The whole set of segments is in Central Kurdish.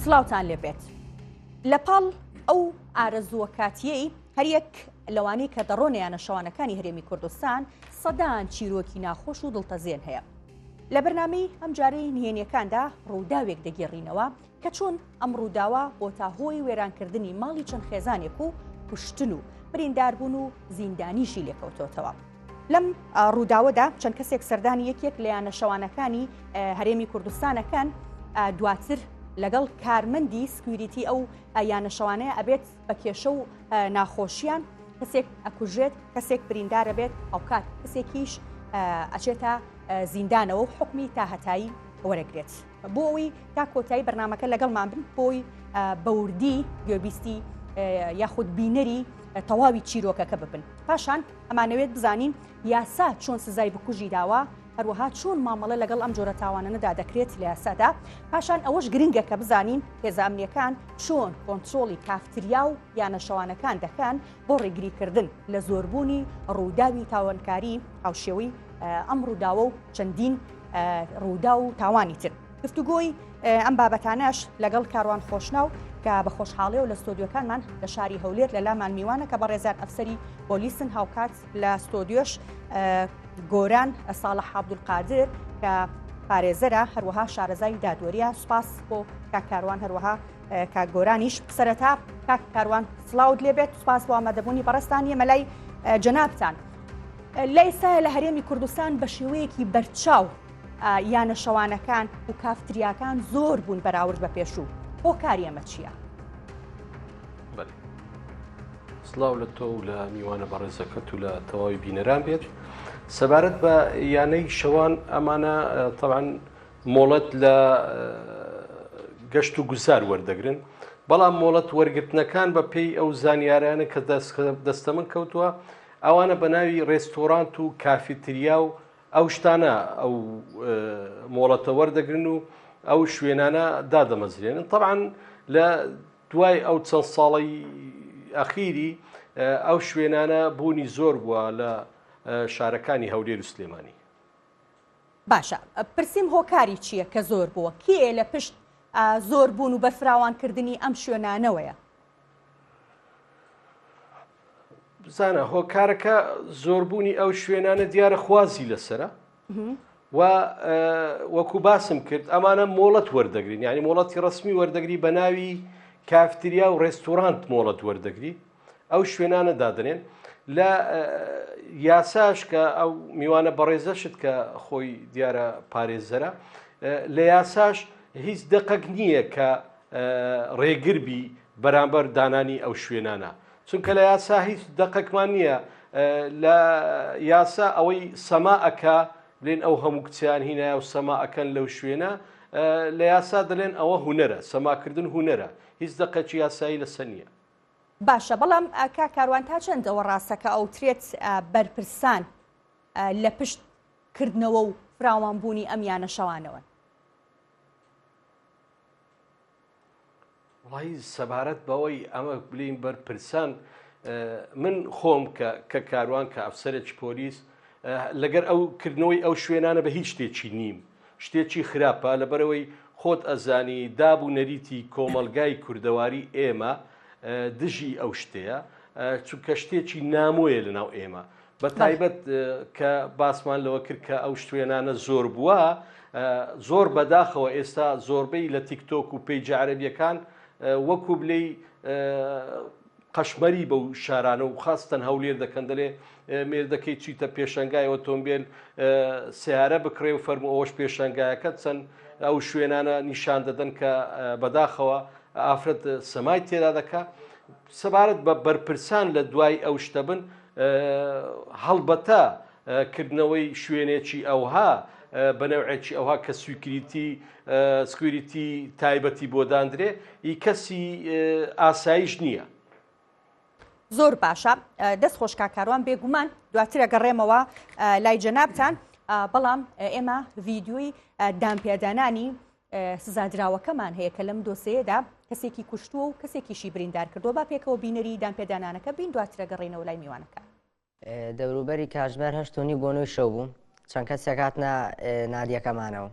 سلااوان لێبێت لە پاڵ ئەو ئارەزووە کاتیەی هەریەک لەوانی کە دەڕۆنیانە شەوانەکانی هەرێمی کوردستان سەدان چیرۆکی ناخۆش و دڵتەزیێن هەیە لە بەرنامەی ئەمجارەی نهێنیەکاندا ڕووداوێک دەگێڕینەوە کە چۆن ئەم ڕووداوە بۆ تا هۆی وێرانکردنی ماڵی چەند خێزانێک و کوشتن و برینداربوون و زیندانیشی لێکەوتۆتەوە. لەم ڕووداوەدا چەند کەسێک سەردانی یەکێک لە یانە شەوانەکانی هەرێمی کوردستانەکان دواتر لەگەڵ کارمەندی سکویریتی ئەو یانە شەوانەیە ئەبێت بە کێشە و ناخۆشییان کەسێک ئەکوژێت کەسێک بریندارە بێت ئەوکات کەسێکیش ئەچێتە زیندانەوە و حکمی تا هەتایی وەرەگرێت بۆ ئەوی تا کۆتایی بەرنمەکە لەگەڵمان بن بۆی بەوردی گوێبیستی یاخود بینەری تەواوی چیرۆکەکە ببن پاشان ئەمانەوێت بزانین یاسا چۆن سزای بکوژی داوە، هەروەها چۆن مامەڵە لەگەڵ ئەم جۆرە تاوانەنەدا دەکرێت لە یاسادا، پاشان ئەوەش گرنگە کە بزانین هێزە ئەمنییەکان چۆن کۆنترۆڵی کافتریا و یانە شەوانەکان دەکەن بۆ ڕێگریکردن لە زۆربوونی ڕووداوی تاوانکاری هاوشێوەی ئەم ڕووداوە و چەندین ڕووداو و تاوانی تر. گفتوگۆی ئەم بابەتانەش لەگەڵ کاروان خۆشناو کە بە خۆشحاڵیەوە لە ستۆدیۆکانمان لە شاری هەولێر لەلامان میوانە کە بەڕێزیان ئەفسەری پۆلیسن هاوکات لە ستۆدیۆش گۆران ساڵە حابدولقادر کە پارێزەرە هەروەها شارەزای دادوەریە سپاس بۆ کاکاروان هەروەها کاک گۆرانیش سەرەتا کاک کاروان سلااوت لێبێت سپاس بۆ ئامادەبوونی بەڕستان یەمە لای جەنابتان لای سایە لە هەرێمی کوردستان بە شێوەیەکی بەرچاو یانە شەوانەکان و کافتریاکان زۆر بوون بەراورد بە پێشوو بۆ کاریەمە چییە؟ بله سڵاو لە تۆ و لە میوانە بەڕێزەکەت و لە تەواوی بینەران بێت سەبارەت بە یانەی شەوان ئەمانە تەوان مۆڵەت لە گەشت و گوزار وەردەگرن بەڵام مۆڵەت وەرگرتنەکان بە پێی ئەو زانیارانە کە دەستە من کەوتووە ئەوانە بە ناوی ڕێستۆرانت و کافیتریا و ئەو شتانە ئەو مۆڵەتە وەردەگرن و ئەو شوێنانە دادەمەزرێنن طبعاان لە دوای ئەو چەند ساڵەی ئەخیری ئەو شوێنانە بوونی زۆر بووە لە شارەکانی هەولێر و سلێمانی. باشە پرسیم هۆکاری چیە کە زۆر بووە کێ لە پشت زۆر بوون و بەرفراوانکردنی ئەم شوێنانەوەیە؟ بزانە هۆکارەکە زۆربوونی ئەو شوێنانە دیارە خوازی لەسرە و وەکو باسم کرد ئەمانە مۆڵەت وەردەگرین ینی مۆڵەتی ڕسمی وەردەگری بە ناوی کافتریا و ڕێستورانت مۆڵەت وەردەگری ئەو شوێنانە دادنێن لە یاساش کە ئەو میوانە بەڕێزەشت کە خۆی دیارە پارێزەرە لە یاساش هیچ دقەک نییە کە ڕێگر بی بەرامبەر دانانی ئەو شوێنانە چونکە لە یاسا هیچ دەقەکمان نییە لە یاسا ئەوەی سەما ئەکا بلێن ئەو هەموو کچیان هینایە و سەما ئەکەن لەو شوێنە لە یاسا دەلێن ئەوە هوەرە سەماکردن هوەرە هیچ دەقەچی یاسایی لە سەنیە باشە بەڵام ئاکا کاروان تا چەندەوە ڕاستەکە ئەو ترێت بەرپرسان لە پشت کردنەوە و فراوانبوونی ئەم یانە شەوانەوەن وڵی سەبارەت بەوەی ئەمە بلین بەرپرسان من خۆم کە کە کاروان کە ئەفسەرێکی پۆلیس لەگەر ئەو کردنەوەی ئەو شوێنانە بە هیچ شتێکی نیم شتێکی خراپە لەبەرەوەی خۆت ئەزانی داب و نەریتی کۆمەلگای کوردەواری ئێمە دژی ئەو شتەیە چونکە شتێکی نامۆیە لەناو ئێمە بە تایبەت کە باسمان لەوە کرد کە ئەو شتوێنانە زۆر بووە زۆر بەداخەوە ئێستا زۆربەی لە تیکتۆک و پێی جارەبیەکان وەکو بلی قەشمەری بەو شارانە و خاستن هەولێر دەکەن دەلێ مێردەکەی چیتە پێشنگای ئۆتۆمبیل سیارە بکڕێ و فەرمو ئەوش پێشنگایەکە چەند ئەو شوێنانە نیشان دەدەن کە بەداخەوە ئافرەت سەمای تێدا دەکە سەبارەت بە بەرپرسان لە دوای ئەو شتە بن، هەڵبەتە کردنەوەی شوێنێکی ئەوها بە نەوعێکی ئەوها کە سویکریتی سکویریتی تایبەتی بۆ داندرێ ئی کەسی ئاسایش نییە. زۆر باشە دەست خۆش کا کاروان بێگومان دواترە گەڕێمەوە لای جەنابان بەڵام ئێمە ڤیددیوی دامپیادانانی سزادراوەکەمان هەیە کە لەم دۆسێیەدا کەسێکی کوشتووە و کەسێکیشی بریندار کردووە با پێکەوە بینەری دانپێدانانەکە بین دواترە گەڕێنەوە لای میوانەکە. دەوروبەری کاتژمێر هەشت و نیو بۆ نۆی شەو بوو چەند کەسێک هاتنە نادیەکەمانەوە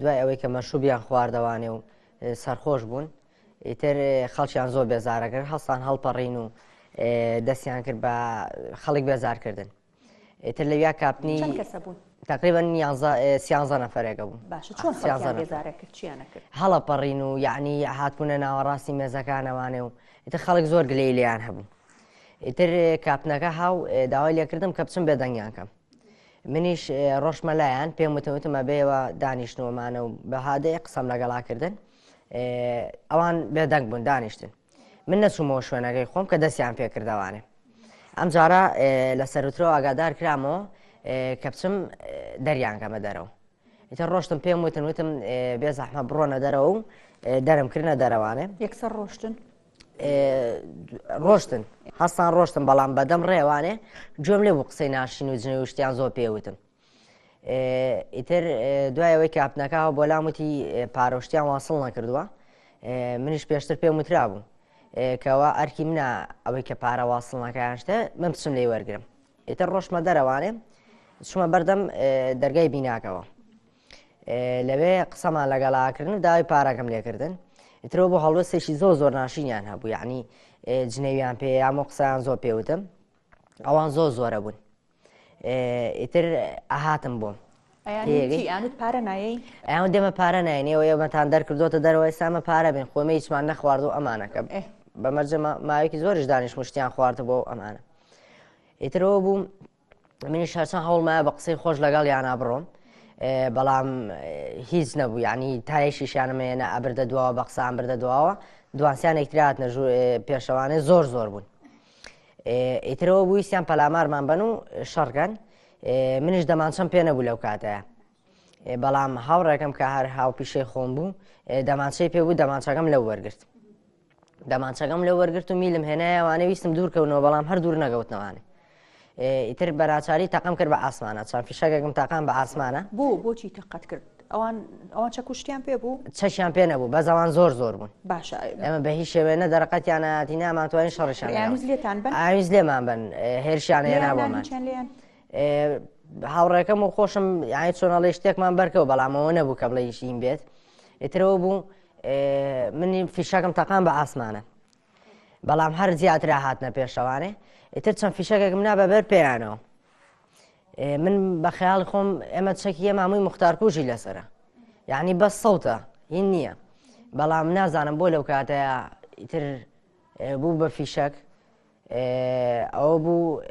دوای ئەوەی کە مەشوبیان خواردەوانێ و سەرخۆش بوون ئیتر خەڵکیان زۆر بێزارەکرد هەستان هەڵپەڕین و دەستیان کرد بە خەڵک بێزارکردن ئیتر لەویا کاپنی چەند کەسە بوون؟ تقریبا سیانزە نەفرێکە بوو هەڵە پەڕین و یعنی هاتبوونە ناوەڕاستی مێزەکانەوانێ و ئیتر خەڵک زۆر گلەی لێیان هەبوو ئیتر کاپنەکە هاو داوای لێکردم کە بچم بێدەنگیان کەم منیش ڕۆشمە لایەن پێم وتەوتمە بێەوە دانیشتنەوەمانە و بەهادەیە قسەم لەگەڵاکردن ئەوان بێدەنگ بوون دانیشتن من نەچوومەوە شوێنەکەی خۆم کە دەستیان پێکردەوانێ ئەم جارە لە سەرترەوە ئاگادار کرامەوە کە بچم دەریانگەمە دەرەوە ئیتە ڕۆشتم پێم وتن وتم بێ زەحمە بڕۆنە دەرەوە و دەرم کردە دەرەوانێ یەکسەر ڕۆشتن ڕۆشتن هەستان ڕۆشتن بەڵام بەدەم ڕێوانێ گوێم لێ بوو قسەی ناشین و جنێوشتیان زۆر پێوتن ئیتر دوای ئەوەی کاپنەکەەوە بۆ لام وتی پارۆشتیان واسڵ نەکردووە منیش پێشتر پێم وترا بوو کەوا ئەرکی منە ئەوەی کە پارە واسڵنەکەیان شتە من بچم لێ وەرگرم ئیتر ڕۆشمە دەرەوانێ چمە بەردەم دەرگای بیناکەوە لەوێ قسەمان لەگەڵاکردن و داوای پارەکەم لێکردن ئیترەوە بۆ هەڵوەستێکی زۆ زۆر ناشینیان هەبوو یعنی جنێویان پێ یامۆ قسەیان زۆر پێوتم ئەوان زۆر زۆرە بوون ئیتر ئەهاتم بۆ پێگەی ئەیانوت پارە نایەی ئەیان دێمە پارە ناینێەوە ئێمەتان دەرکردوتە دەرەوە ئێسامە پارە بێن خۆمە هیچمان نەخوارد و ئەمانەکە ئێ. بە مەرجە ما- ماوەیەکی زۆریش دانیش مشتیان خوارد بۆ ئەو ئەمانە ئیترەوە بووم منیش هەرچەند هەوڵمایە بە قسەی خۆش لەگەڵ یانا بڕۆم ئێ، بەڵام ئێ، هیچ نەبوو یعنی تایشیشیانمێنە ئەبردە دواوە بە قسان بردە دواوە دوانسیان یەکتراتنە ژوو ئێ، پێشەوانێ زۆر زۆر بوون ئیترەوە بویستیان پەلامارمان بن و شەڕگەن منیش دەمانچەم پێ نەبوو لەو کاتەیە بەڵام هاوڕێکم کە هەر هاو پیشەی خۆم بوو دەمانچەی پێ بوو دەمانچەکەم لەو وەرگرت دەمانچەکەم لە وەرگرت و میلم هێنایەوانە ویستم دوورکەونەوە بەڵام هەر دوور نەگەوتنەوانێ ئیتر بەناچاری تەقەم کرد بە ئاسمانە چەند فیشەکێکم تاقان بە ئاسمانە بۆ بۆچی تەقەت کرد ئەوان ئەوان چە کوشتیان پێ بوو چەشیان پێ نەبوو بە زەوان زۆر زۆر بوون باشە ئەمە بە هیچ شێوێنە دەرەقەتیان ناتی نامانتوانین شەڕشان یانوز لێتان بن ئاویز لێمان بن هێرشیان هێنابوومان هاوڕێکەم و خۆشم یانی چۆنەڵی شتێکمان بەرکەوە بەڵامەوە نەبوو کە بڵێ یشین بێت ئیترەوە بوو منی فیشەکەم تەقان بە ئاسمانە بەڵام هەر زیاترا هاتنە پێشەوانێ ئیتر چەند فیشەکێکم نا بەبەر پێیانەوە من بە خەیاڵ خۆم ئێمە چەکیە مامووی مختارکوژی لەسرە یعنی بەس سەوتە هین نییە بەڵام نازانم بۆ لەو کاتەیە ئیتر بوو بە فیشەک ئەوە بوو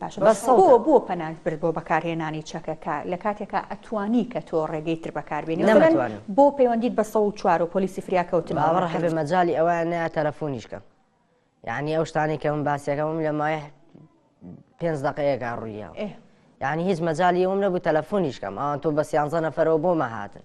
باشە بە سەدا. بۆ بۆ پەنات برد بۆ بەکارهێنانی چەکەکە لە کاتێکا ئەتوانی کە تۆ ڕێگەی تر بەکار بێنی مەسەلەن نەمتوانی. بۆ پەیوەندیت بە سەد و چوار و پۆلیسی فریاکەوتن بە باوەڕ هەبێ نەکەویت. مەجالی ئەوەیان نەیا تەلەفونیش کەم یانی ئەو شتانەی کە من باسیەکەم ئەم لە مایه پێنج دەقەیەکا ڕووی یاوە ئێ. یانی هیچ مەجالی ئەوم نەبوو تەلەفونیش کەم ئەوان تۆ بە سیانزە نەفەرەوە بۆمە هاتن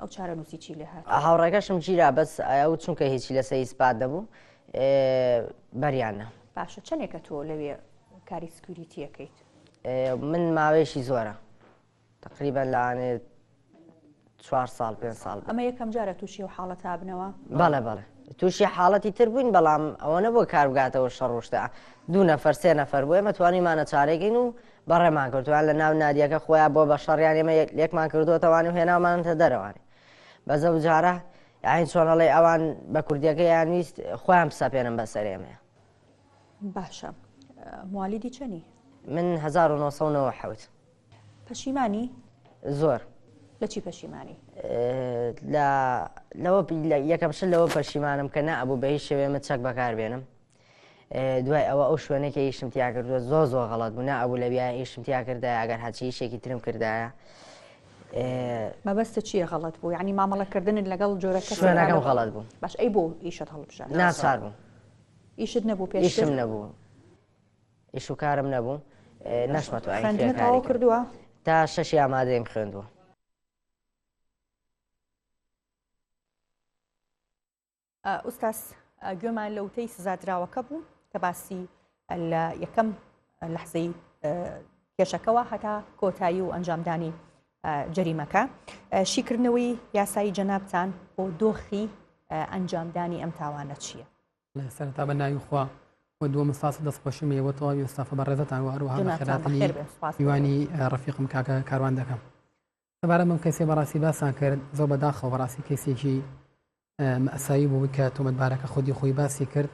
ئەو چارەنوسی چی لێ هات؟ هاوڕێکەشم گیرا بەس ئەو چونکە هیچی لەسەر ئیسپات نەبوو بەریان نا. باشە چەنێکە تۆ لەوێ کاری سکوریتیەکەیت؟ من ماوەیەکی زۆرە تقریبا لەوانێت چوار ساڵ پێ ساڵ بوو. ئەمە یەکەم جارە تووشی و حاڵەت هابنەوە؟ بەڵێ بەڵێ تووشی حاڵەتی تر بووین بەڵام ئەوە نەبووە کار بگاتەوە شەڕ ڕۆشتە دوو نەفەر سێ نەفەر بۆ ئێمە توانیمانە چارەگەین و بەڕێمان کردوویان لە ناو نادیەکە خۆیان بۆ بە شەڕیان ئێمە لێکمان کردووەتەوانی و هێناومانتە دەرەوەنێ بە زە و جارە یاین چۆنەڵی ئەوان بە کوردیەکە یان ویست خۆیان بسەپێنم بەسەر ئێمە باشە موالیدی چەنی من 1970 پەشیمانی زۆر لە چی پەشیمانی لەوە یەکەم شت لەوە پەشیمانم کە نەبوو بە هیچ شێوێمە چەک بەکاربێنم دوای ئەوە ئەو شوێنەی کە ئیشم تیا کردووە زۆر زۆر غەڵەت بوو نابوو لە بیاە ئیشم تیا کردایە ئەگەر هەچی ئیشێکی ترم کردایە مەبەستە چییە غەڵەت بوو ینی مامەڵەکردنت لەگەڵ جۆرە شوێنەکەم غەڵەت بوو باش ئەی بۆ ئیشت هەڵبژە ناچار بوو ئیشت نەبوو پێ ئیشم نەبوو ئیش و کارم نەبوو نەشمە تو خوێندنەوە کردووە تا شەشی ئامادەیم خوێندووە ئوستاز گوێمان لە وتەی سزادراوەکە بوو کە باسی لە یەکەم لەحزەی کێشەکەەوە هەتا کۆتایی و ئەنجامدانی جەریمەکە شیکردنەوەی یاسایی جەنابتان بۆ دۆخی ئەنجامدانی ئەم تاوانە چییە سەرتا بە ناوی خوا و دووە مساس دەستخۆشی مەوە تەواوی وستافە بە ڕێزتان وەروهاوانی ڕفیقم کاکە کاروان دەکەم سەبارەت بەم کەیسەی بەڕاستی باسان کرد زۆر بەداخەوە بەڕاستی کەیسێکی مەساوی بوو کە تۆمەتبارەکە خودی خۆی باسی کرد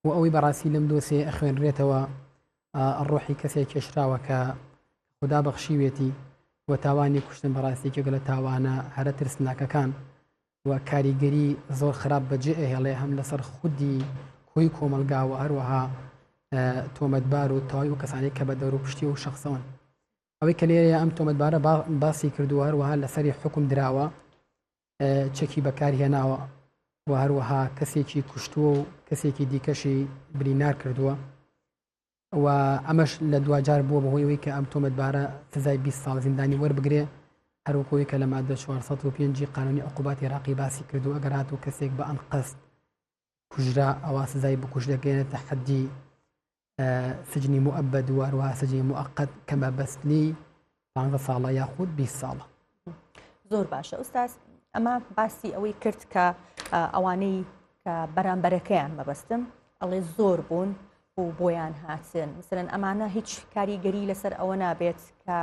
و ئەوەی بەڕاستی لەم دۆسێ ئەخوێنرێتەوە ڕۆحی کەسێک کێشراوە کە خدا بەخشیوێتی و تاوانی کوشتن بەڕاستێکێک لە تاوانە هەرە ترسناکەکان و کاریگەری زۆر خراپ بەجێ ئەهێڵێ هەم لەسەر خودی کۆی کۆمەلگا و هەروەها تۆمەتبار و تاوای و کەسانی کە بە دەور و پشتی و شخصەوەن ئەوەی کە لێرەیە ئەم تۆمەتبارە باسی کردووە هەروەها لەسەری حکم دراوە چەکی بەکارهێناوە و هەروەها کەسێکی کوشتووە و کەسێکی دیکەشی برینار کردووە و ئەمەش لە دوجار بووە بەهۆیەوەی کە ئەم تۆمەتبارە سزای 20 ساڵ زیندانی وەربگرێ هەروکۆی کە لە مادە 405 قانونی عقوبات عراقی باسی کردو ئەگەرات و کەسێک بە ئەنقەست کوژرا ئەوا سزای بکوژ دەگەێنێتە حەدی سجنی موئبە دوواروها سجنی موقت کە مەبەستنی پ ساڵە یاخود 20 ساڵە زۆر باشە ئوستاز ئەمە باسی ئەوەی کرد کە ئەوانەی کە بەرامبەرەکەیان مەبەستم ئەڵێ زۆر بوون و بۆیان هاتن مثلەن ئەمانە هیچ کاریگەری لەسەر ئەوە نابێت کە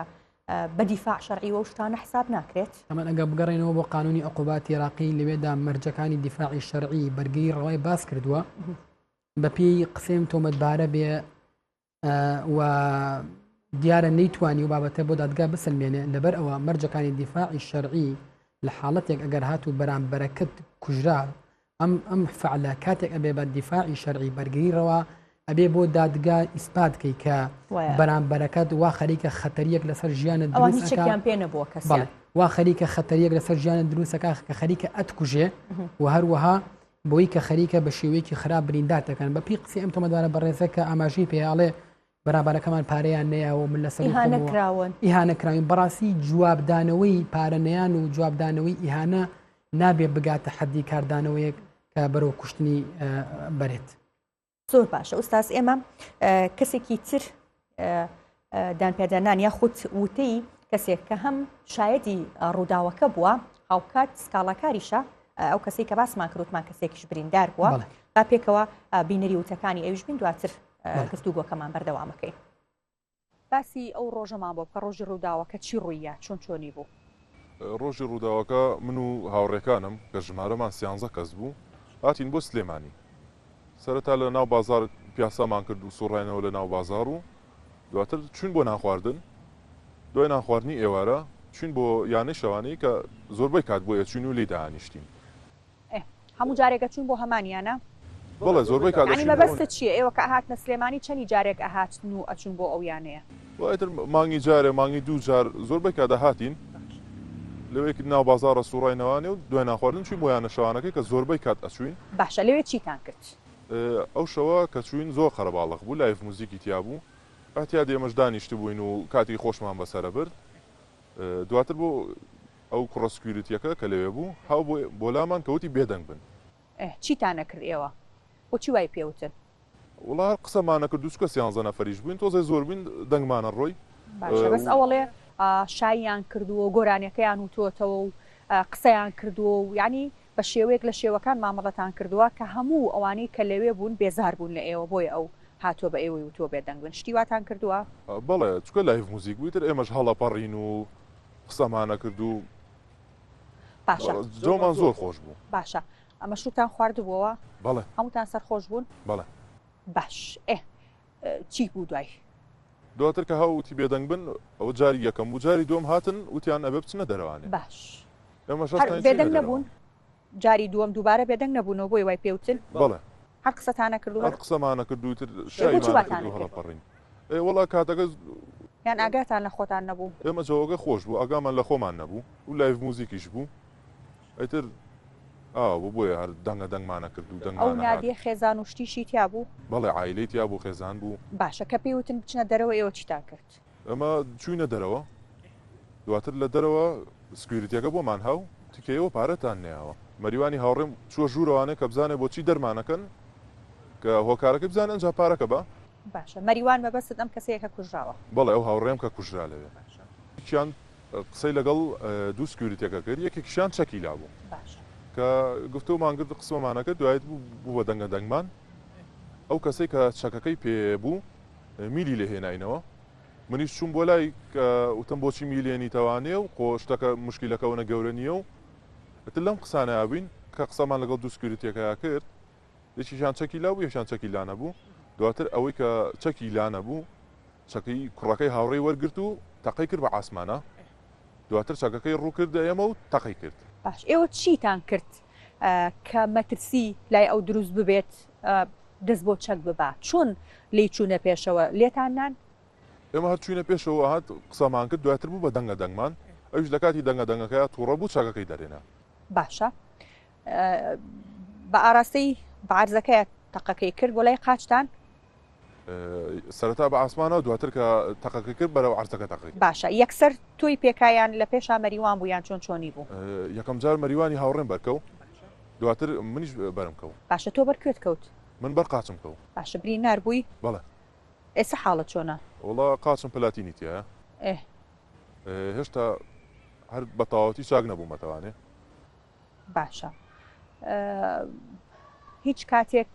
بە دیفاع شەرعی وەو شتانە حساب ناکرێت. ئەمن ئەگەر بگەڕێنەوە بۆ قانونی عقوبات عێراقی لەوێدا مەرجەکانی دیفاعی شەرعی بەرگری ڕەوای باس کردووە بە پێی قسەم تۆمەتبارە بێ و دیارە نەیتوانی و بابەتە بۆ دادگا بسلمێنێ لەبەر ئەوە مەرجەکانی دیفاعی شەرعی لە حاڵەتێک ئەگەر هات و بەرامبەرەکەت کوژرا ئەم ئەم فعلە کاتێک ئەبێ بە دیفاعی شەرعی بەرگری ڕەوا ئەبێ بۆ دادگا ئیسپات کەی کە بەرامبەرەکەت وا خەریکە خەتەریەک لەسەر ژیانت دروستیان پێ نەبووە کەس وا خەریکە خەتەریەک لەسەر ژیانە دروستەکە کە خەریکە ئەتکوژێ و هەروەها بۆی کە خەریکە بە شێوەیەکی خراپ برینداتەکەن بە پێی قسی ئەم تۆمەدارە بەڕێزەکە ئاماژەی پێیاڵێ بەرابەرەکەمان پارەیان نەیاوەو من لەسەر ئیهانە کراون ئیهانە کراوین بەڕاستی جواب دانەوەی پارە نەیان و جواب دانەوەی ئیهانە نابێ بگاتە حەدی کاردانەوەیەک کە بەرەو کوشتنی بەرێت زۆر باشە ئوستاز ئێمە کەسێکی تر دانپێدانان یاخود وتەی کەسێک کە هەم شایدی ڕووداوەکە بووە هاوکات سکاڵاکاریشە ئەو کەسی کە باسمان کروتمان کەسێکیش بریندار بووە با پێکەوە بینەری وتەکانی ئەوش بین دواتر گفتوگۆکەمان بەردەوام ئەکەین. باسی ئەو ڕۆژەمان بۆ بکە، ڕۆژی ڕووداوەکە چی ڕووییا، چۆن چۆنی بوو؟ ڕۆژی ڕووداوەکە من و هاوڕێکانم کە ژمارەمان سیانزە کەس بوو هاتین بۆ سلێمانی، سەرەتا لە ناو بازاڕ پیاسامان کرد و سوڕاینەوە لە ناو بازاڕ و دواتر چووین بۆ نانخواردن، دوای نانخواردنی ئێوارە چووین بۆ یانەی شەوانەی کە زۆربەی کات بۆی ئەچووین و لێی دەئانیشتین. ئێ هەموو جارێک ئەچوون بۆ هەمان یانە؟ بەڵێ زۆربەی کات یانی ئەچووین بۆ ئەو. مەبەستت چییە ئێوە کە ئەهاتنە سلێمانی چەنی جارێک ئەهاتن و ئەچوون بۆ ئەو یانەیە؟ وە ئیتر مانگی جارێ مانگی دوو جار زۆربەی کات ئەهاتین لەوێ ناو بازاڕە سووڕاینەوە نێو دوای نانخواردن چووین بۆ یانە شەوانەکەی کە زۆربەی کات ئەچووین. باشە لەوێ چیتان کرد؟ ئەو شەوە کە چووین زۆر قەرەباڵغ بوو لایڤ موزیکی تیا بوو ئەتیادی ئێمەش دانیشتبووین و کاتی خۆشمان بەسەرە برد دواتر بۆ. ئەو کوڕە سکیوریتیەکە کە لەوێ بوو هاو بۆ لامان کە وتی بێدەنگ بن. ئه چیتان ئەکرد ئێوە؟ بۆچی وای پێ وتن؟ وەڵا هەر قسەمان نەکرد دووچکە سیانزە نەفەریش بووین تۆزێ زۆر بووین دەنگمانە ڕۆی. باشە بەس ئەوەڵێ شاییان کردووە و گۆرانیەکەیان وتۆتەوە و قسەیان کردووە و یانی بە شێوەیەک لە شێوەکان مامەڵەتان کردووە کە هەموو ئەوانەی کە لەوێ بوون بێزار بوون لە ئێوە بۆیە ئەو هاتووە بە ئێوەی وتووە بێدەنگ بن شتی واتان کردووە؟ بەڵێ چکە لایڤ موزیک بوو ئیتر ئێمەش هەڵەپەڕین و قسەمانەکرد و باشە جۆمان زۆر خۆش بوو باشە ئەمە شوتان خواردبووەوە بەڵێ هەمووتان سەر خۆش بوون بەڵێ باش ئێ چی بوو دوای دواتر کە هاوتی بێدەنگ بن ئەو جاری یەکەم و جاری دۆم هاتن وتیان ئەبێ بچنە دەرەوانێ باش ئێمە بێدەنگ نەبوون جاری دووەم دووبارە بێدەنگ نەبوونەوە بۆیە وای پێ وتن. بەڵێ. هەر قسەتانە کرد و هەر. هەر قسەمانە کرد و ئیتر ئێ بۆچی شایمانە کرد واتان و لێکرد؟ هەڵەپەڕین. ئێ وەڵا کاتەکە. یان ئاگاتان لە خۆتان نەبوو؟ ئێمە جەوەکە خۆش بوو ئاگامان لە خۆمان نەبوو و لایڤ موزیکیش بوو ئیتر ئاوا بوو بۆیە هەر دەنگە دەنگمانە کرد و ئەو دەنگمانە هات. نادیە خێزان و شتیشی تیا بوو؟ بەڵێ عایلەی تیا بوو خێزان بوو. باشە کە پێی وتن بچنە دەرەوە ئێوە چیتان کرد؟ ئێمە چووینە دەرەوە، دواتر لە دەرەوە سکویریتیەکە بۆمان ها و وتی کە ئێوە پارەتان نەیاوە. مەریوانی هاوڕێم چووە ژوورەوانێ کە بزانێ بۆچی دەرمانەکەن، کە هۆکارەکەی بزانێ ئەنجا پارەکە بە. باشە مەریوان مەبەستت ئەم کەسەیە کە کوژراوە؟ بەڵێ ئەو هاوڕێم کە کوژرا لەوێ. باشە. یەکیان قسەی لەگەڵ دوو سکویریتیەکە کرد، یەکێکیشیان چەکی لابوو. باشە. کە گفتومان کرد قسمەمانە کرد، دوایی بوو بە دەنگە دەنگمان. ئەو کەسەی کە چەکەکەی پێ بوو. میلی لێ هێناینەوە منیش چووم بۆ لای وتم بۆچی میلێنی تەوانێ و خۆ شتەکە مشکیلەکەونە گەورە نییە و ئەتر لەم قسانە بووین کە قسەمان لەگەڵ دوو سکیورتیەکە کرد یەکیشان چەکی لا بوو یەکشان چەکی لا نەبوو دواتر ئەوەی کە چەکی لا نەبوو چەکەی کوڕەکەی هاوڕێی وەرگرت و تەقەی کرد بە ئاسمانە دواتر چەکەکەی ڕوو کردە ئێمە و تەقەی کرد باش ئێوە چیتان کرد کە مەترسی لای ئەو دروست ببێت دەست بۆ چەک ببە چۆن لێی چوونە پێشەوە لێتان نان؟ ئێمە هەر چووینە پێشەوە هات قسەمان کرد دواتر بوو بە دەنگە دەنگمان ئەویش لە کاتی دەنگە دەنگەکەیا تووڕە بوو چاکەکەی دەرێنا باشە بە ئاراستەی بارزەکەی تەقەکەی کرد بۆ لای قاچتان سەرەتا بە عاسمانەوە دواتر کە تەقەکەی کرد بەرەو عەرزەکە تەقەی. باشە یەکسەر تۆی پێکا یان لە پێشا مەریوان بوو یان چۆن چۆنی بوو؟ یەکەم جار مەریوانی هاوڕێم بەرکەو دواتر منیش بەرم کەو. باشە تۆ بەر کوێت کەوت؟ من بەر قاچم کەو. باشە بری نار بووی؟ بەڵێ. ئێسە حاڵت چۆنە؟ وەڵا قاچم پلاتینی تیایە. ئێ. هێشتا هەر بەتەواوەتی چاک نەبوومەتەوانێ. باشە هیچ کاتێک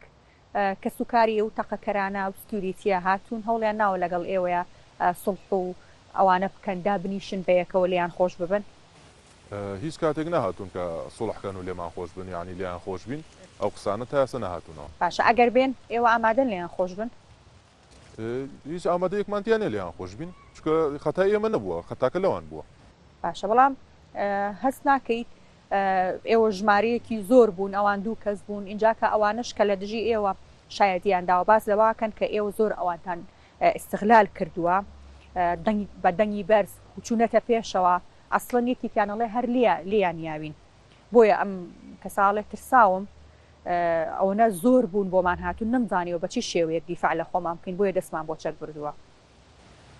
کەس و کاری و تەقەکەرانە و سکیوریتیە هاتوون هەوڵیان ناوە لەگەڵ ئێوەیە سڵح و ئەوانە بکەن دابنیشن بەیەکەوە لێیان خۆش ببن هیچ کاتێک نەهاتوون کە سڵحکەن و لێمان خۆش بن یعنی لێیان خۆش بین ئەو قسانە تا ئێستا نەهاتوونەوە. باشە ئەگەر بێن ئێوە ئامادەن لێیان خۆش بن؟ هیچ ئامادەیەکمان تیا نیە لێیان خۆش بین چونکە خەتای ئێمە نەبووە خەتاکە لەوان بووە. باشە بەڵام هەست ناکەیت ئێوە ژمارەیەکی زۆر بوون ئەوان دوو کەس بوون ئینجا کە ئەوانش کە لە دژی ئێوە شایەتیان داوە باس لەواکەن کە ئێوە زۆر ئەوانتان ئیستغلال کردووە بە دەنگی بەرز چوونەتە پێشەوە ئەسڵەن یەکێکیان ئەڵێ هەر لێیان یاوین بۆیە ئەم کەسە ئەڵێ ترساوم ئەوەنە زۆر بوون بۆمان هاتون نەمزانیەوە بە چی شێوەیەک دیفاع لە خۆمان بکەین بۆیە دەستمان بۆ چەک بردووە.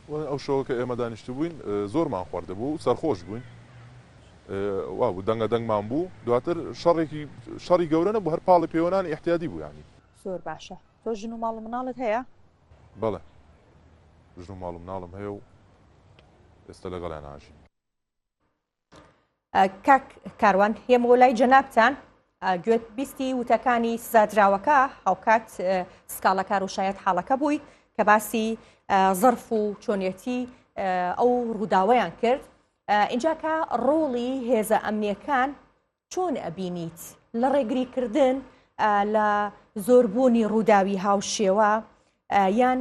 وە ئەو شەوە کە ئێمە دانیشتبووین زۆرمان خواردبوو سەرخۆش بووین وا بوو دەنگە دەنگمان بوو دواتر شەڕێکی شەڕی گەورە نەبوو هەر پاڵی پێوەنانی احتیادی بوو ینی زۆر باشە تۆ ژن و ماڵ و مناڵت هەیە بەڵێ ژن و ماڵ و مناڵم هەیە و ئێستا لەگەڵیان ئاژین کاک کاروان هێم بۆ لای جەنابان گوێت بیستی وتەکانی سزادراوەکە هاوکات سکاڵەکار و شاید حاڵەکە بووی کە باسی زەرف و چۆنیەتی ئەو ڕووداویان کرد اینجا کە ڕۆڵی هێزە ئەمنیەکان چۆن ئەبینیت لە ڕێگریکردن لە زۆربوونی ڕووداوی هاوشێوە یان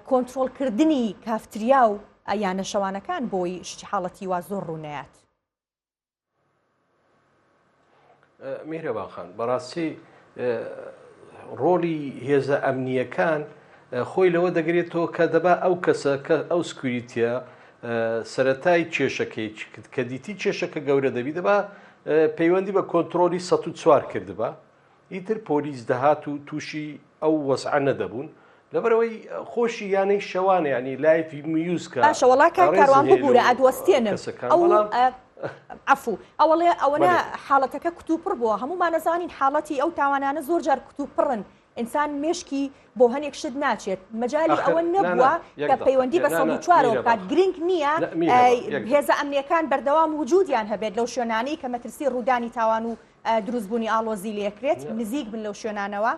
کۆنتترۆلکردنی کافتریا و یانە شەوانەکان بۆی شتی حاڵەتی وا زۆر ڕوونەیات میرەباخان بەڕاستی ڕۆلی هێزە ئەمنیەکان خۆی لەوە دەگرێتەوە کە دەبا ئەو کەسە کە ئەو سکوریتە سەرەتای کێشەکەی کرد کە دیتی کێشەکە گەورە دەبی دەبا پەیوەندی بە کۆنتترۆلی 1940 کردبا ئیتر پۆلیس دەهات و تووشی ئەو وەسعە نەدەبوون لەبەرەوەی خۆشی یانەی شەوانە ینی لایفی میوزکە شەوەڵاکە کاروان ببوورە ئەدوەستێنم عفو ئەوڵێ ئەوەنە حاڵەتەکە کتوپڕ بووە هەموومانەزانین حاڵەتی ئەو تاوانانە زۆر جار کتوپڕن ئینسان مێشکی بۆ هەنێک شت ناچێت مەجالی ئەوە نەبووە کە پەیوەندی بە سەد و چوارەوە بکات گرینگ نییە هێزە ئەمنیەکان بەردەوام وجودیان هەبێت لەو شوێنانەی کە مەترسی ڕوودانی تاوان و دروستبوونی ئاڵۆزی لەکرێت نزیک بن لەو شوێنانەوە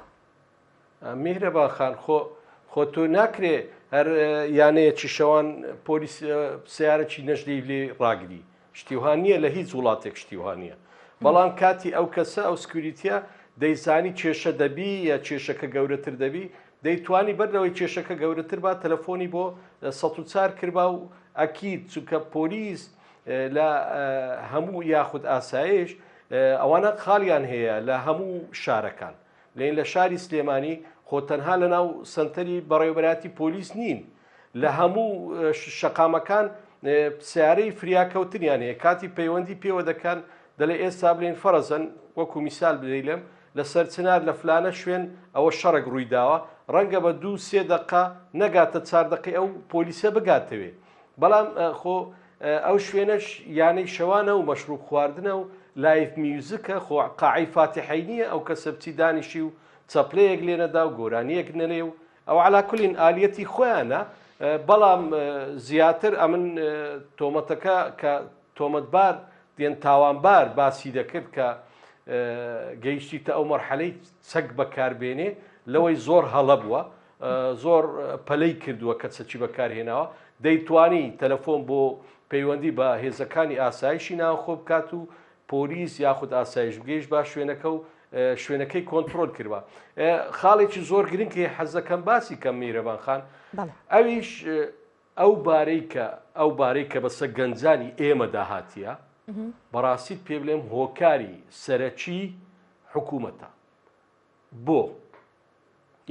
میهرە باخان خۆ خۆ تۆ ناکرێ هەر یانەیەکی شەوان پۆلیس سیارەکی نەژدەی لێ ڕاگری شتی وها نیە لە هیچ وڵاتێک شتی وها نیە بەڵام کاتی ئەو کەسە ئەو سکوریتە دەیزانی کێشە دەبی یا کێشەکە گەورەتر دەبی دەیتوانی بەر لەوەی کێشەکە گەورەتر با تەلەفۆنی بۆ سە چار کربا و ئەکیید چونکە پۆلیس لە هەموو یاخود ئاسایش ئەوانە خاڵیان هەیە لە هەموو شارەکان لێن لە شاری سلێمانی خۆ تەنها لە ناو سنتەری بەڕێوبەراتی پۆلیس نین لە هەموو شەقامەکان سیارەی فریاکەوتنیان هەیە کاتی پەیوەندی پێوە دەکەن دەلێ ئێستا بلین فەرەزەن وەکو میسال بدەیلم لەسەر چنار لە فلانە شوێن ئەوە شەڕک ڕووی داوە ڕەنگە بە دوو سێ دقا نەگاتە چاردەقی ئەو پۆلیسە بگاتەوێ بەڵام خۆ ئەو شوێنەش یانەی شەوانە و مەشروب خواردنە و لایف میوزیکە خۆ قاعی فاتحی نییە ئەو کەسە بچی دانیشی و چەپلەیەک لێنەدا و گۆرانیەک نەلێ و ئەوە عەلا کولین ئالیەتی خۆیانە بەڵام زیاتر ئەمن تۆمەتەکە کە تۆمەتبار دێن تاوانبار باسی دەکرد کە گەیشتیتە ئەو مەرحەلەی چەک بەکاربێنێ لەوەی زۆر هەڵە بووە زۆر پەلەی کردووە کە چەکی بەکارهێناوە دەیتوانی تەلەفۆن بۆ پەیوەندی بە هێزەکانی ئاسایشی ناوخۆ بکات و پۆلیس یاخود ئاسایشبگەیش با شوێنەکە و شوێنەکەی کۆنتترۆل کردوە خاڵێکی زۆر گرنگی حەزەکەم باسی کەم میرەبان خان ئەویش ئەو بارەی کە ئەو بارەی کە بەسە گەنجانی ئێمە داهاتە بەڕاستیت پێ بلێم هۆکاری سەرەکی حکوومەتە بۆ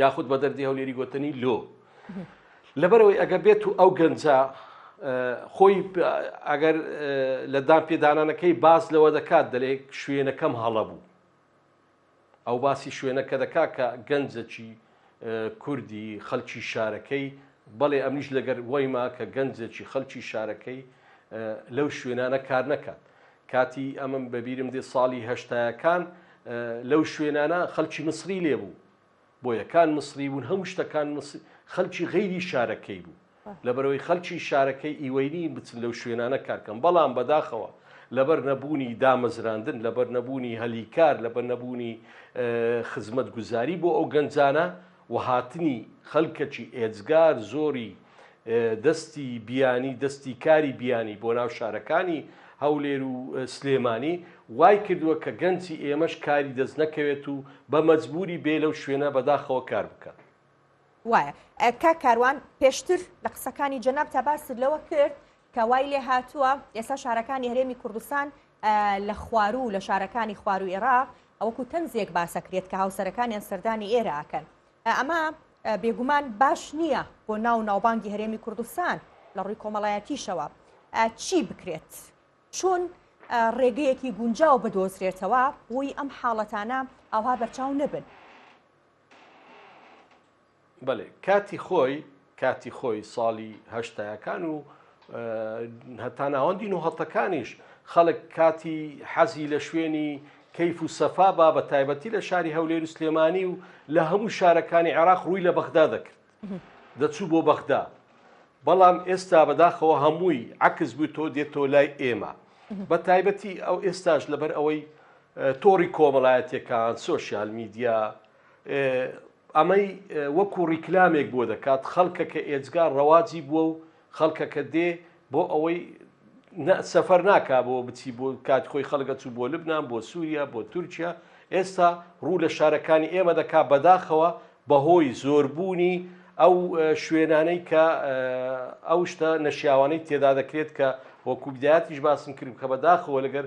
یاخود بە دەردی هەولێری گوتنی لۆ لەبەرەوەی ئەگە بێت و ئەو گەنجە خۆی ئەگەر لە دان پێدانانەکەی باز لەوە دەکات دەلێک شوێنەکەم هەڵە بوو ئەو باسی شوێنەکە دەکا کە گەنجەکی کوردی خەلکی شارەکەی بەڵێ ئەمنیش لەگەر وایما کە گەنجێکی خەلکی شارەکەی لەو شوێنانە کار نەکات کاتی ئەمەم بەبیرم دێ ساڵی هەشتایەکان لەو شوێنانە خەلکی مسری لێ بوو بۆیەکان مسری بوون هەموو شتەکان خەلکی غیری شارەکەی بوو لەبەرەوەی خەلکی شارەکەی ئیوەینی بچن لەو شوێنانە کارکەم بەڵام بەداخەوە لەبەر نەبوونی دامەزراندن لەبەر نەبوونی هەلی کار لەبەر نەبوونی خزمەت گوزاری بۆ ئەو گەنجانە و هاتنی خەلکەکی ئێجگار زۆری دەستی بیانی دەستی کاری بیانی بۆ ناو شارەکانی هەولێر و سلێمانی وای کردوە کە گەنجی ئێمەش کاری دەست نەکەوێت و بە مەجبوری بێ لەو شوێنە بەداخەوە کار بکات. وایە کاک کاروان پێشتر لە قسەکانی جەنابتا باست لەوە کرد کە وای لێ هاتووە ئێستا شارەکانی هەرێمی کوردستان لە خواروو لە شارەکانی خواروو ئێراق ئەوەکو تەنزێک باسەکرێت کە هاوسەرەکانیان سەردانی ئێرە ئەکەن ئەمە بێگومان باش نییە بۆ ناو و ناوبانگی هەرێمی کوردستان لە ڕووی کۆمەڵایەتیشەوە چی بکرێت چون ڕێگەیەکی گونجاو بدۆزرێتەوە بۆی ئەم حاڵەتانە ئاوا بەرچاو نەبن بەلێ کاتی خۆی کاتی خۆی سالی هەشتایەکان و هەتا ناوەندی نوهەتەکانیش خەڵک کاتی حەزی لە شوێنی کەیف و سەفا با بە تایبەتی لە شاری هەولێر و سلێمانی و لە هەموو شارەکانی عێراق ڕووی لە بەغدا دەکرد دەچوو بۆ بەغدا بەڵام ئێستا بەداخەوە هەمووی عکس بوو تۆ دێتەوە لای ئێمە بە تایبەتی ئەو ئێستاش لەبەر ئەوەی تۆڕی کۆمەڵایەتەکان سوۆسیال میدیا ئەمەی وەکو ڕیکلامێک بۆ دەکات خەڵکەکە ئێجگا ڕەواجی بووە و خەڵکەکە دێ بۆ ئەوەی سەفەر ناکا بۆ بچی بۆ کات خۆی خەڵگە چوو بۆ لبنان بۆ سووریا بۆ تورکیا ئێستا ڕوو لە شارەکانی ئێمە دەکا بەداخەوە بەهۆی زۆربوونی ئەو شوێنانەی کە ئەو شتە نەشیاوانەی تێدا دەکرێت کە وەکوبدایەتیش باسم کرد کە بەداخەوە لەگەر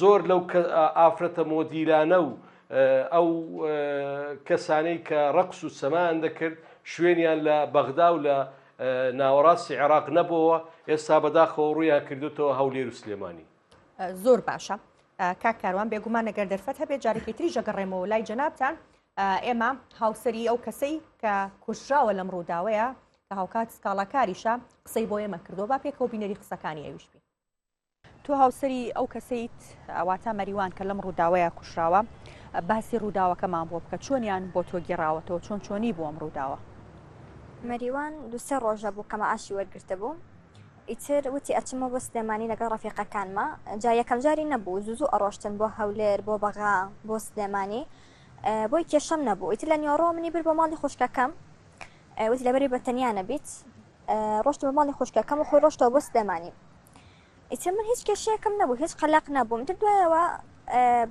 زۆر لەو ئافرەتە مۆدیلانە و ئەو کەسانەی کە ڕەقس و سەمان دەکرد شوێنیان لە بەغدا و لە ناوەڕاستی عێراق نەبەوە ئێستا بەداخەوە ڕوویان کردوتەوە هەولێر و سلێمانی زۆر باشە کاک کاروان بێگومان نەگەر دەرفەت هەبێت جارێکی تری ژەگەڕێمەوە لای جەنابان ئێمە هاوسری ئەو کەسەی کە کوشراوە لەم ڕووداوەیە کە هاوکات سکاڵاکاریشە قسەی بۆ ئێمە کردو با پێکەوە بینەری قسەکانی ئەویشبی تۆ هاوسەری ئەو کەسەیت ئەواتە مەریوان کە لەم ڕووداوەیە کوشراوە باسی ڕووداوەکەمان بۆ بکە چۆنیان بۆ تۆ گێڕاوەتەوە چۆن چۆنی بۆم ڕووداوە مەریوان دوسێ ڕۆژە بوو کەمە ئاشی وەرگرتە بوو ئیتر وتی ئەچمە بۆ سلێمانی لەگەڵ ڕفیقەکانمە جا یەکەم جاری نەبوو زوزو ئەڕۆشتن بۆ هەولێر بۆ بەغا بۆ سلێمانی بۆی کێشەم نەبوو ئیتر لە نیۆڕۆ منی بر بۆ ماڵی خوشکەکەم وتی لەبەری بەتەنیا نەبیت ڕۆشت بە ماڵی خوشکەکەم و خۆی ڕۆشتەوە بۆ سلێمانی ئیتر من هیچ کێشەیەکم نەبوو هیچ قەلەق نەبووم تر دوایەوە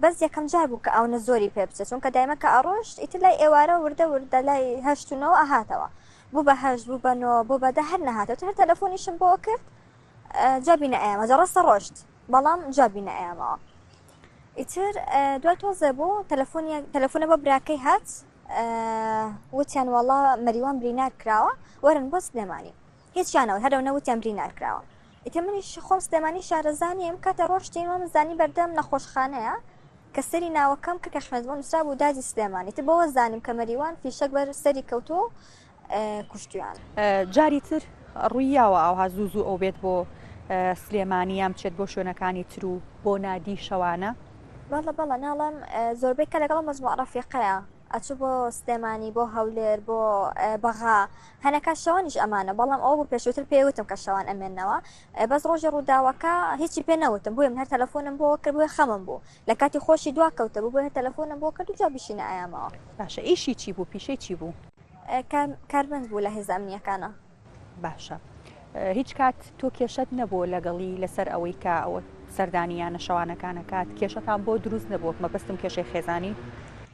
بەس یەکەم جار بوو کە ئەوە زۆری پێ بچێت چونکە دایمە کە ئەڕۆشت ئیتر لای ئێوارە وردە وردە لای هەشتونەوە ئەهاتەوە بوو بە هەش بوو بەنۆ بۆ بەدە هەر نەهاتێت هەر تەلەفۆنیشم بۆ کرد جوابی نەیەمە جەڕەسە ڕۆشت بەڵام جوابی نەیەمەوە ئیتر دوای تۆزە بوو تەلەفۆنی تەلەفۆنە بە براکەی هات وتیان وەڵا مەریوان برینار کراوە وەرن بۆ سلێمانی هیچیان نەوت هەرەو نەوتیان برینار کراوە ئیتر منیش خۆم سلێمانی شارەزا نیم ئەم کاتە ڕۆشتین وام زانی بەردەم نەخۆشخانەیە کە سەری ناوەکەم کە کە خوێنت بۆ نوسرابوو دادی سلێمانی ئیتر بەوە زانیم کە مەریوان فیشەک بەر سەری کەوتووە و کوشتویانە. جاری تر ڕووی یاوە ئاوها زوو زوو ئەو بێت بۆ سلێمانی یان بچێت بۆ شوێنەکانی تر و بۆ نادی شەوانە؟ بەڵە بەڵە ناڵم زۆربەی کە لەگەڵ مەجموع ڕەفیقەیە ئەچوو بۆ سلێمانی بۆ هەولێر بۆ بەغا هەنەکە شەوانیش ئەمانە بەڵام ئەوە بوو پێشووتر پێی وتم کە شەوان ئەمێنەوە بەس ڕۆژی ڕووداوەکە هیچی پێ نەوتم بۆیە من هەر تەلەفۆنم بۆ کرد بۆیە خەمم بوو لە کاتی خۆشی دوا کەوتبوو بۆیە هەر تەلەفۆنم بۆ کرد و جوابیشی نەئایامەوە. باشە ئیشی چی بوو پیشەی چی بوو؟ کارمەند بوو لە هێزە ئەمنییەکانا. باشە هیچ کات تۆ کێشەت نەبووە لەگەڵی لەسەر ئەوەی کە ئەوە سەردانی یانە شەوانەکان ئەکات کێشەتان بۆ دروست نەبووە مەبەستم کێشەی خێزانی؟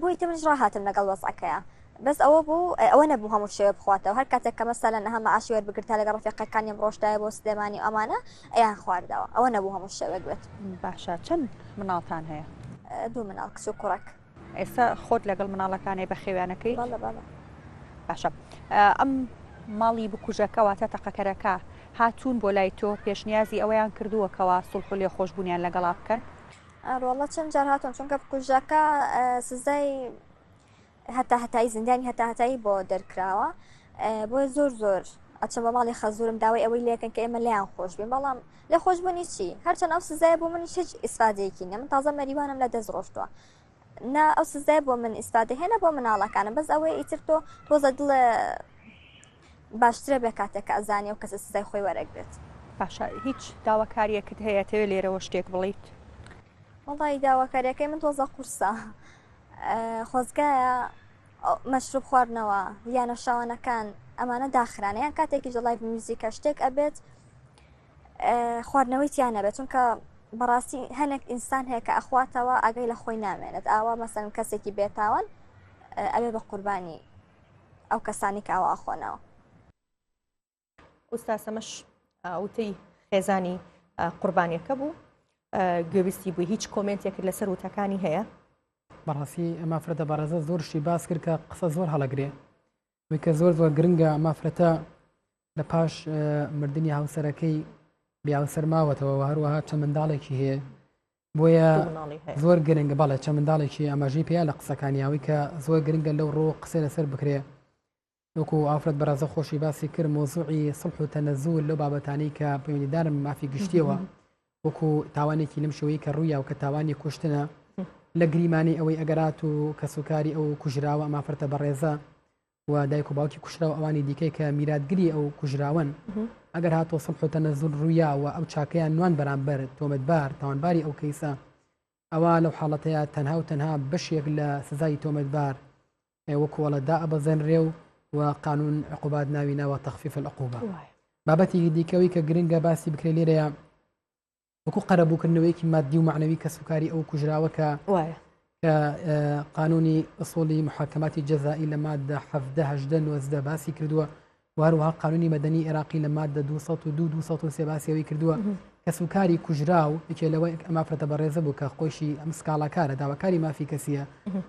بۆی کە منیش ڕاهاتم لەگەڵ وەزعەکەیا بەس ئەوە بوو ئەوە نەبوو هەموو شەوێ بخواتەوە هەر کاتێک کە مەسەلەن ئەها مەعاشی وەربگرت تا لەگەڵ ڕەفیقەکانیم ڕۆشتایە بۆ سلێمانی و ئەمانە ئەیان خواردەوە ئەوە نەبوو هەموو شەوێک بێت باشە چەند مناڵتان هەیە دوو مناڵ کچ و کوڕەک ئێستا خۆت لەگەڵ مناڵەکانی بە خێویانەکەی بەڵە بەڵە باشە ئەم ماڵی بکوژەکەواتە تەقەکەرەکە هاتوون بۆ لای تۆ پێشنیازی ئەوەیان کردووەکەوە سڵح و لێ خۆشببوونیان لەگەڵا بکەن ئەرێ وەڵا چەند جار هاتوون چونکە بکوژەکە سزای هەتا هەتایی زیندانی هەتا هەتایی بۆ دەرکراوە بۆیە زۆر زۆر ئەچم بە ماڵی خەزورم داوای ئەوەی لەکەن کە ئێمە لیان خۆش بێ بەڵام لە خۆش بوونی چی هەرچەند ئەو سزای بۆ منی هیچ ئیسفادەیەکی نە من تازە مەریوانم لە دەست ڕۆشتووە نا ئەو سزای بۆ من ئیسفادە هێنە بۆ مناڵەکانم بەس ئەوەی ئیتر تۆ تۆزە دڵە باشترە بێ کاتێک کە ئەزانێ ئەو کەسە سزای خۆی وەرەگرێت. باشە هیچ داواکاریەکت هەیە تەوێ لێرەوە شتێک بڵیت؟ وەڵای داواکاریەکەی من تۆزە قورسە خۆزگایە مەشروب خواردنەوە یانە شاوانەکان ئەمانە داخرانە یان کاتێکی جڵای میوزیکە شتێک ئەبێت خواردنەوەی تیان نەبێت چونکە بەڕاستی هەنێک ئینسان هەیە کە ئەخواتەوە ئەگەی لە خۆی نامێنێت ئاوا مەسەن کەسێکی بێتاوان ئەوێ بە قوربانی ئەو کەسانی کە ئاوا ئەخۆنەوە. ئوستا سەمەش وتەی خێزانی قوربانیەکە بوو گوێبیستی بووی هیچ کۆمنتێکرد لەسەر وتەکانی هەیە بەڕاستی ئەمە فرەتە بەڕێزە زۆر شتی باس کرد کە قسە زۆر هەڵەگرێ وکە زۆر زۆر گرنگە مافرەتە لە پاش مردنی هاوسەرەکەی بیاوسەر ماوەتەوە هەروەها چە منداڵێکی هەیە بۆیە زۆر گرنگە بەڵێ چە منداڵێکی ئاماژەی پێیا لە قسەکانیاوی کە زۆر گرنگە لەو ڕۆ قسە لەسەر بکرێ وەکو ئافرەت بەڕازە خۆشی باسی کرد مۆزوعی سڵح و تەنەزول لەو بابەتانی کە پەیوەندیدارم مافی گشتیەوە وەکو تاوانێکی لەم شوەیە کە ڕوویا و کە تاوانی کوشتنە لە گریمانی ئەوەی ئەگەرات و کەسوکاری ئەو کوژراوە مافرەتە بەڕێزە و دایک و باوکی کوشرا و ئەوانی دیکەی کە میراتگری ئەو کوژراون ئەگەر هاتۆ سڵ حوتەنە زول ڕوویا و ئەو چاکەیان نوان بەرامبەر تۆمەتبار تاوانباری ئەو کەیسە ئەوە لەو حاڵەتەیە تەنها و تەنها بەشێک لە سزای تۆمەتبار وەکوڵە دا ئەبەزێنرێ و و قانون عقوبات ناوی ناوە تەخفیف العقوبە بابەتێکی دیکەوەی کە گرنگە باسی بکرێ لێرەیە وەکو قەرەبووکردنەوەیەکی مادی و معنەوی کەسوکاری ئەو کوژراوە کە وایە قانونی ئەسۆلی محاکماتی جەزایی لە مادە حەفدەهدە نۆزدە باسی کردووە وهروها قانونی مەدەنی عێراقی لە مادە 2023 باسیەوەی کردووە کەس و کاری کوژرا و یەکێ لەوە ئەمافرەتە بەڕێزە بوو کە خۆشی ئەم سکاڵاکارە داواکاری مافی کەسیە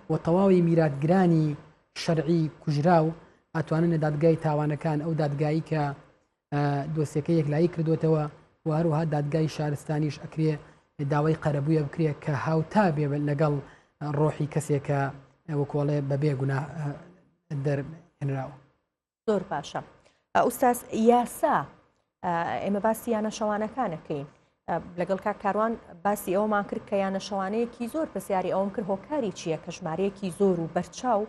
و تەواوی میراتگرانی شەرعی کوژرا و ئەتوانن لە دادگای تاوانەکان ئەو دادگایی کە دۆسیەکە یەکلایی کردوێتەوە و هەروها دادگای شارستانیش ئەکرێ داوای قەرەبووە بکرێت کە هاوتا بێ لەگەڵ ڕۆحی کەسێکە وەکۆڵێ بەبێ گونا دەرهێنراوە زۆر باشە ئوستاس یاسا ئێمە باسی یانە شەوانەکانەکەین لەگەڵ کاک کاروان باسی ئەومان کرد کە یانە شەوانەیەکی زۆر پرسیاری ئەوم کرد هۆکاری چییە کە ژمارەیەکی زۆر و بەرچاو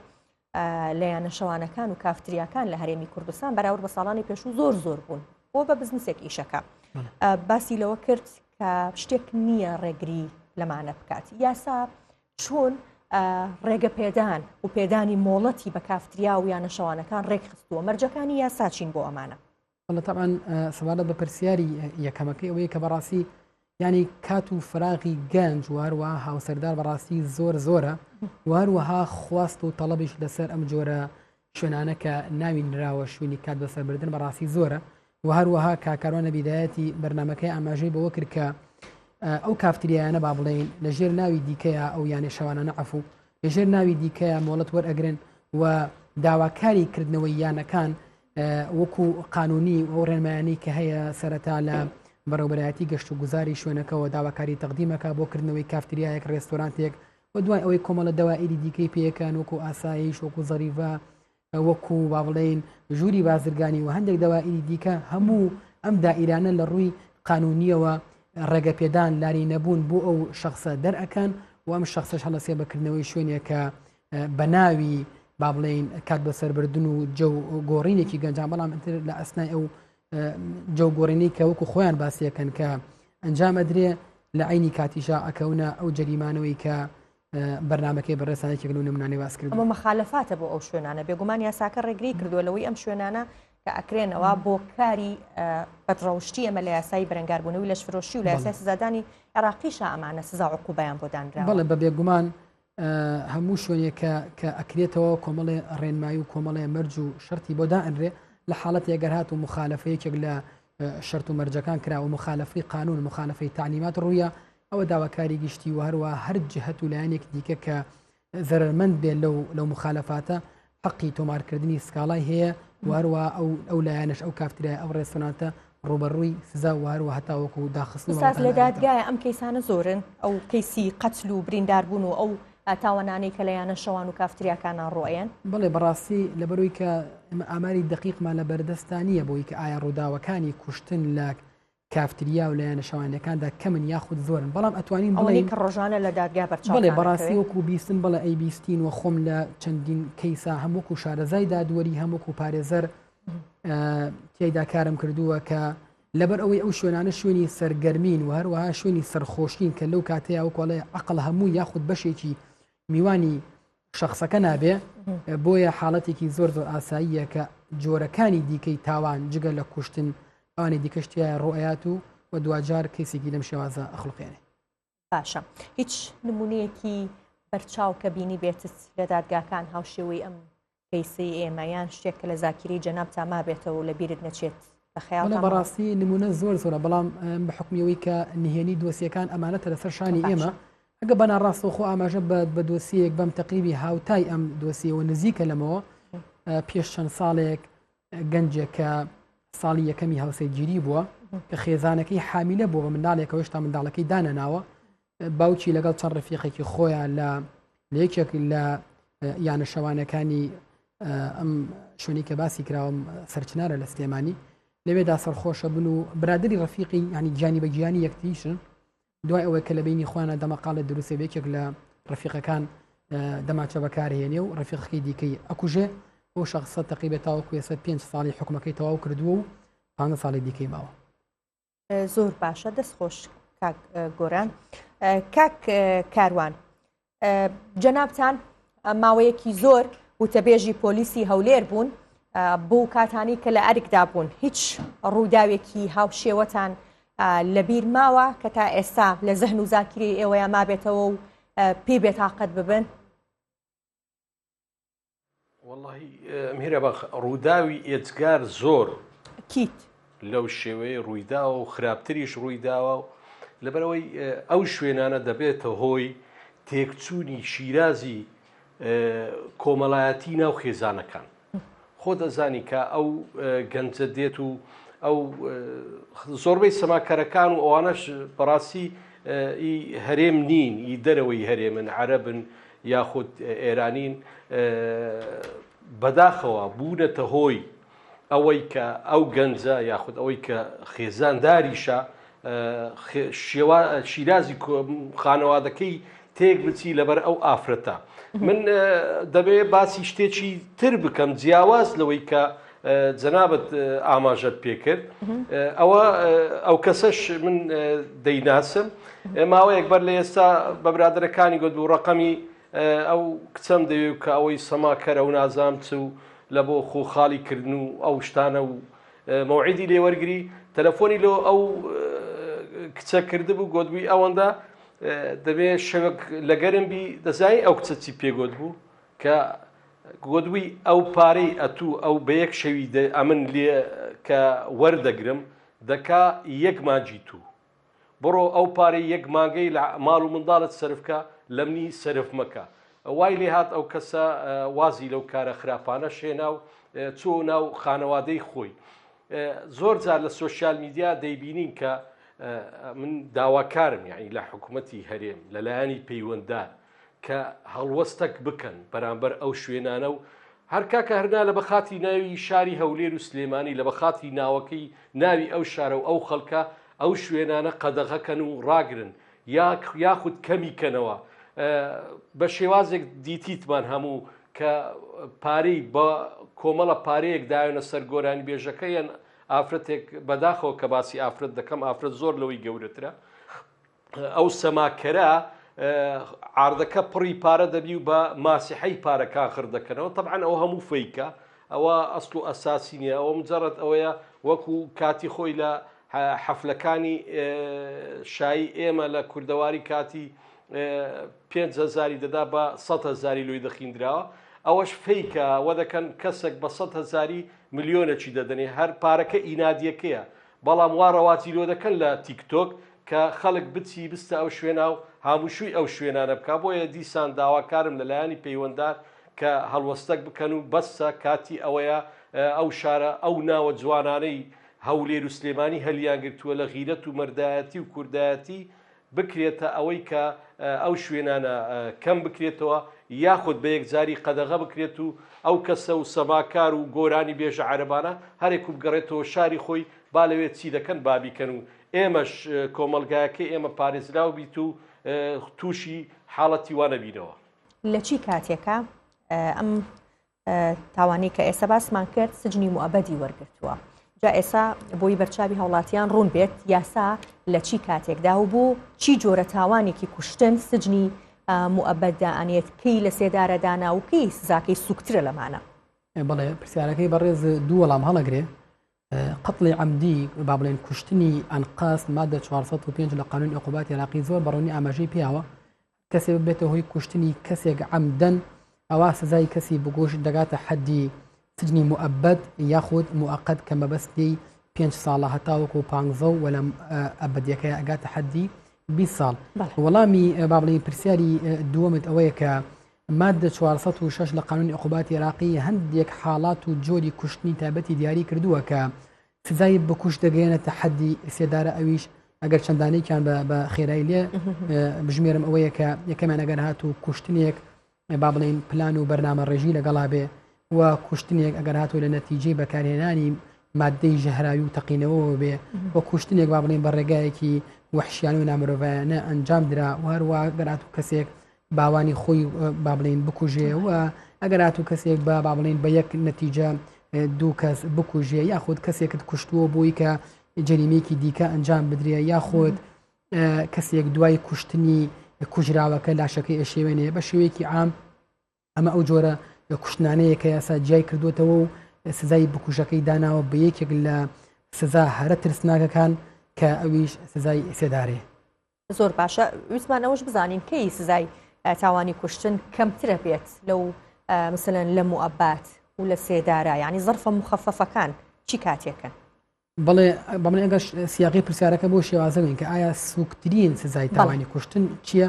لە یانە شەوانەکان و کافتریاکان لە هەرێمی کوردستان بەراورد بە ساڵانی پێشوو زۆر زۆر بوون بۆ بە بزنسێک ئیشەکە باسی لەوە کرد کە شتێک نییە ڕێگری لەمانە بکات یاسا چۆن ڕێگە پێدان و پێدانی مۆڵەتی بە کافتریا و یانە شەوانەکان ڕێکخستووە مەرجەکانی یاساچین بۆ ئەمانە وەڵا تەبعەن سەبارەت بە پرسیاری یەکەمەکەی ئەوەیە کە بەڕاستی ینی کات و فراغی گەنج واروە هاوسەردار بەڕاستی زۆر زۆرە واروەها خواست و تەڵەبیش لەسەر ئەم جۆرە شوێنانە کە ناوی نراوە شوێنی کات بەسەربردن بەڕاستی زۆرە و هەروەها کاکارۆنە بیدایەتی بەرنمەکەی ئاماژەی بەوە کرد کە ئەو کافتریایانە با بڵێین لەژێر ناوی دیکەیە ئەو یانە شەوانانە عفو لەژێر ناوی دیکەیە مۆڵەت وەرئەگرن و داواکاری کردنەوەی یانەکان وەکو قانونی و ئەو ڕێنمایانی کە هەیە سەرەتا لە بەڕێوبەرایەتی گەشت و گوزاری شوێنەکەەوە داواکاری تەقدیمەکە بۆ کردنەوەی کافتریایەک ڕێستۆرانتێک و دوای ئەوەی کۆمەڵە دەوائری دیکەی پێەکان وەکو ئاسایش وەکو زەریڤە وەکو با بڵێین ژووری بازرگانی و هەندێک دەوائری دیکە هەموو ئەم دائیرانە لە ڕووی قانونیەوە ڕێگە پێدان لاری نەبوون بۆ ئەو شخصە دەرەکان و ئەم شخصش هەڵەسێ بەکردنەوەی شوێنێکە بە ناوی با بڵێین کات بە سەربردن و جە گۆڕینێکی گەنجان بەڵام ئەتر لە ئەسنای ئەو جە گۆڕینی کە وەکو خۆیان باسیەکەن کە ئەنجام ئەدرێ لە عینی کاتیشا ئەکەونە ئەو جەریمانەوەی کە بەرنمەکەی بەڕێسانی چگەل و نمونانی واز کرد بۆ مەخالفاتە بۆ ئەو شوێنانە بێگومان یاساکە ڕێگری کردووە لەوەی ئەم شوێنانە کە ئەکرێنەوە بۆ کاری بەدڕەوشتی ئەمە لە یاسایی بەرەنگاربوونەوەی لەش فرۆشی و لە یاسای سزادانی عێراقیشا ئەمانە سزا عقوبیان بۆ دانرا بڵێ بە بێگومان هەموو شوێنێک کە ئەکرێتەوە کۆمەڵێ ڕێنمایی و کۆمەڵێ مەرج و شەری بۆ دائەنرێ لە حاڵەتی ئەگەر هات و مخالفەیەکێک لە شەرت و مەرجەکان کرا و مخالفی قانون مخالفی تعلیمات ڕوویە ئەوە داواکاری گشتی و هەروە هەر جهت و لایەنێک دیکە کە زەرمەند بێ لەو لەو مخالفاتە حەقی تۆمارکردنی سکاڵای هەیە وهروە ئەو ئەو لایەنش ئەو کافتریای ئەو ڕێستۆناتە ڕوبەڕووی سزا وهروە هەتاوەکو و داخست لە دادگایە ئەم کەیسانە زۆرن ئەو کەیسی قەتل و برینداربوون و ئەو تاوانانەی کە لە یانە شەوان و کافتریاکانە ڕۆیەن بڵێ بەڕاستی لەبەروی کە ئەمە ئاماری دقیقمان لە بەردەستانە بۆی کە ئایا ڕووداوەکانی کوشتن لە کافتریا و لایەنە شەوانیەکاندا کەمن یاخود زۆرن بەڵام ئەتوانین بڵێین کە ڕۆژانە لە دادگا بەرچاو بڵێ بەڕاستی وەکو بیستن بڵێ ئەی بیستین و خۆم لە چەندین کەیسا هەم وەکو شارەزای دادوەری هەم وەکو پارێزەر تێدا کارم کردووە کە لەبەر ئەوەی ئەو شوێنانە شوێنی سەرگەرمین و هەروەها شوێنی سەرخۆشین کە لەو کاتەیە و کۆڵێ عقل هەموو یاخود بەشێکی میوانی شەخسەکە نابێ بۆیە حاڵەتێکی زۆر زۆر ئاساییە کە جۆرەکانی دیکەی تاوان جگە لە کوشتن ئانی دیکەشتیە ڕۆیات و و دوجار کەسێکی لەم شێوازە ئەخلقێنێ باشە هیچ نمونونەیەکی بەرچاو کە بینی بێتت لە دادگاکان هاوشێوەی ئەم پیسی ئێمە یان شتێک کە لە زاکیری جەناب تا مابێتەوە لە بیرت نەچێت خیاڵە بەڕاستی نمونە زۆر زۆرە بەڵام بە حکمیەوەی کە نهێنی دۆسیەکان ئەمانەتە لەسەر شانی ئێمە ئەگەر بە ناڕاستەوخۆ ئاماژە بە دۆسیەیەک بەم تەقریبی هاوتای ئەم دۆسیەوە نزیکە لەمەوە پێش چەند ساڵێک گەنجێکە ساڵی یەکەمی هاوسەرگیری بووە کە خێزانەکەی حامیلە بۆ بە منداڵێکەوە هێشتا منداڵەکەی دانەناوە باوکی لەگەڵ چەند ڕفیقێکی خۆیان لە لەیەکێک لە یانە شەوانەکانی ئەم شوێنی کە باسی کراوەم سەرچنارە لە سلێمانی لەوێدا سەرخۆشە بن و برادری ڕفیقی ینی گیانی بە گیانی یەکتیشن دوای ئەوەی کە لە بینی خۆیانە دەمەقاڵێ دروستێ بێکێک لە ڕفیقەکان دەماچە بەکارهێنێ و ڕفیقەکەی دیکەی ئەکوژێ بۆ شخصە تەقیبێت تاوە کوێسە پێنج ساڵی حکومەکەی تەواو کردووە و پانە ساڵی دیکەی ماوە زۆر باشە دەست خۆش کاک گۆران کاک کاروان جەنابان ماوەیەکی زۆر وتەبێژی پۆلیسی هەولێر بوون بۆ کاتانی کە لە ئەرکدا بوون هیچ ڕووداوێکی هاوشێوەتان لەبیر ماوە کە تا ئێستا لە زەهن و زاکری ئێوەیە مابێتەوە و پێ بێتاقەت ببن میرە بەخ ڕووداوی ئێجگار زۆر کیت لەو شێوەیە ڕوویداوە و خراپتریش ڕوویداوە و لەبەرەوەی ئەو شوێنانە دەبێتە هۆی تێکچوونی شیرازی کۆمەلایەتی ناو خێزانەکان خۆ دەزانی کە ئەو گەنجە دێت و ئەو زۆربەی سەماکەرەکان و ئەوانەش بەڕاستی هەرێم نین ئی دەرەوەی هەرێمن عەربن یاخود ئێرانین بەداخەوە بوونەتە هۆی ئەوەی کە ئەو گەنجە یاخود ئەوەی کە خێزان داریشە شیرازی خانەوادەکەی تێک بچی لەبەر ئەو ئافرەتە من دەبێ باسی شتێکی تر بکەم جیاواز لەوەی کە جەنابت ئاماژەت پێکرد ئەوە ئەو کەسەش من دەیناسم ماوەیەک بەر لە ئێستا بە برادەرەکانی گوت بوو ڕقەمی ئەو کچەم دەوێ کە ئەوەی سەماکەرە و نازام چ و لە بۆ خۆ خاڵی کردن و ئەو شتانە و مەوعیدی لێوەرگری تەلەفۆنی لۆ ئەو کچە کردبوو گوتبووی ئەوەندە دەبێ شەوەک لەگەرم بی دەزای ئەو کچەچی پێگوت بوو کە گۆدوی ئەو پارەی ئەتوو ئەو بە یەک شەوی دە ئەمن لێ کە وەردەگرم دەکا یەک مانجی توو بڕۆ ئەو پارەی یەک مانگەی لە ماڵ و منداڵت سرفکە لەمنی سرف مەکە وای لێ هاات ئەو کەسە وازی لەو کارە خراپانە شێنا و چۆ ناو خانەوادەی خۆی زۆر جار لە سوۆسیال میدیا دەیبینین کە من داواکارم یعنی لە حکوومەتتی هەرێم لەلایەنی پەیوەنددار کە هەڵوەستەک بکەن بەرامبەر ئەو شوێنانە و هەر کاکە هەرنا لە بەخاتی ناوی شاری هەولێر و سلێمانی لە بەخاتی ناوەکەی ناوی ئەو شارە و ئەو خەڵکە ئەو شوێنانە قەدەغەکەن و ڕاگرن یاخود کەمی کەنەوە بە شێوازێک دیتیتمان هەموو کە پارەی بە کۆمەڵە پارەیەک دایەنە سەر گۆرانی بێژەکە یان ئافرەتێک بەداخەوە کە باسی ئافرەت دەکەم ئافرەت زۆر لەوەی گەورەترە ئەو سەماکەرە عاردەکە پڕی پارە دەبی و بە ماسیحی پارەکان خڕ دەکەنەوە تەعاان ئەو هەموو فیکە ئەوە ئەسڵ و ئەساسی نیە ئەوە مجارەت ئەوەیە وەکو کاتی خۆی لە حەفلەکانی شایی ئێمە لە کوردەواری کاتی پێزاری دەدا بە سە هزاری لوی دەخیندراوە ئەوەش فیکە وە دەکەن کەسێک بە سە هزاری ملیۆنەکی دەدەنێ هەر پارەکە ئینادیەکەیە بەڵام وا ڕەواتیرۆدەکەن لە تیک تۆک کە خەلک بچی بستە ئەو شوێناو هاموشوی ئەو شوێنانە بکا بۆیە دیسان داوا کارم لە لایەنی پەیوەندار کە هەلوەستەک بکەن و بەسە کاتی ئەوەیە ئەو شارە ئەو ناوە جوانانەی هەولێرو سلێمانی هەلیان گرتوە لە غیرەت و مەردایەتی و کوردایەتی بکرێتە ئەوەی کە ئەو شوێنانە کەم بکرێتەوە یاخود بە یەکجاری قەدەغە بکرێت و ئەو کەسە و سەماکار و گۆرانی بێژە عەرەبانە هەرێک و بگەڕێتەوە شاری خۆی با لەوێت چی دەکەن بابیکەن و ئێمەش کۆمەلگایەکە ئێمە پارێزراو بیت و تووشی حاڵەتی وانەبینەوە. لە چی کاتێکە ئەم تاوانی کە ئێستا باسمان کرد سجنی موەبەدی وەرگتووە جا ئێسا بۆی بەرچوی هەوڵاتیان ڕوون بێت یاسا لە چی کاتێکدا و بۆ چی جۆرە تاوانێکی کوشتن سجنی موەبەتدا ئەنێت کەی لە سێدارەدانا و کەی سزاکەی سوکترە لەمانە بڵێ پرسیارەکەی بەڕێز دوو وەڵام هەڵەگرێ قتڵی ئەمدی با بڵێن کوشتنی ئەنقاس مادە 405 لە قانون عقوبات عراقی زۆر بەڕۆنی ئاماژەی پیاوە کەسێ ببێتە هۆی کوشتنی کەسێک عەمدەن ئەوا سزای کەسی بگوش دەگاتە حەدی سجنی موئەبەد یاخود موئەقەت کە مەبەستی پێنج ساڵە هەتاوەکو و پانزە و وەلەم ئەبدیەکەی ئەگاتە حەدی 20 ساڵ وەڵامی بابڵی پرسیاری دووەمت ئەوەیە کە مادە 406 لە قانون عقوباتی عراقی هەندێک حاڵات و جۆری کوشتنی تایبەتی دیاری کردووە کە سزای بکوژ دەگەیەنێتە حەدی سێدارە ئەویش ئەگەر چەندانێکیان بە خێرای لێ بژمێرم ئەوەیە کە یەکەمیان ئەگەر هات و کوشتنێک با بڵین پلان و بەرنامە ڕێژی لەگەڵا بێ و کوشتنێک ئەگەر هاتوو لە نەتیجەی بەکارهێنانی مادەی ژەهراوی و تەقینەوەەوە بێ و کوشتنێک با بڵین بە ڕێگایەکی وحشیان و نامرۆڤایانە ئەنجام درا و هەروە گەرات و کەسێک باوانی خۆی با بڵێن بکوژێ و ئەگەر هاتوو کەسێک بە با بڵێن بە یەک نەتیجە دوو کەس بکوژێ یاخود کەسێکت کوشتووە بووی کە جەریمێکی دیکە ئەنجام بدرێ یاخود کەسێک دوای کوشتنی کوژراوەکە لاشەکە ئەشێوێنێ بە شێوەیەکی عام ئەمە ئەو جۆرە لە کوشتنانەیە کە یاسا جیای کردوێتەوە و سزای بکوژەکەی داناوە بە یەکێک لە سزا هەرە ترسناکەکان کە ئەویش سزای سێدارێ زۆر باشە ویسمان ئەوش بزانین کەی سزای تاوانی کوشتن کەمترە بێت لەو مثلەن لە موعبات و لە سێدارە ینی زرفە مخەفەفەکان چی کاتێکن بڵێ بەڵێ ئەگەر سیاقی پرسیارەکە بۆ شێوازەوەین کە ئایا سوکترین سزای تاوانی کوشتن چییە؟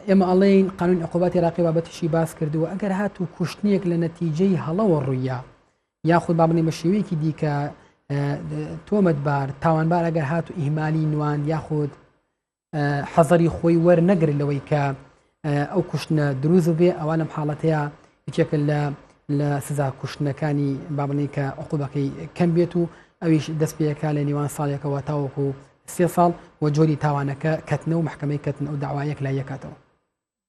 ئێمە ئەڵێین قانون عقوبات عراقی بابەتیشی باس کردووە ئەگەر هاتوو کوشتنیەک لە نەتیجەی هەڵەوە ڕوویە یاخود با بڵێن بە شێوەیەکی دیکە تۆمەتبار تاوانبار ئەگەر هات و ئیهمالی نوان یاخود حەزەری خۆی وەرنەگر لەوەی کە ئەو کوشتنە دروست بێ ئەوان لەم حاڵەتەیە یەکێکە لە لە سزا کوشتنەکانی بابنی کە عقوبەکەی کەم بێت و ئەویش دەست پێەکە لە نیوان ساڵێکەوە تاوەکو سێ ساڵ و جۆری تاوانەکە کەتنە و محکمەی کەتن ئەو داوایەک لایەکاتەوە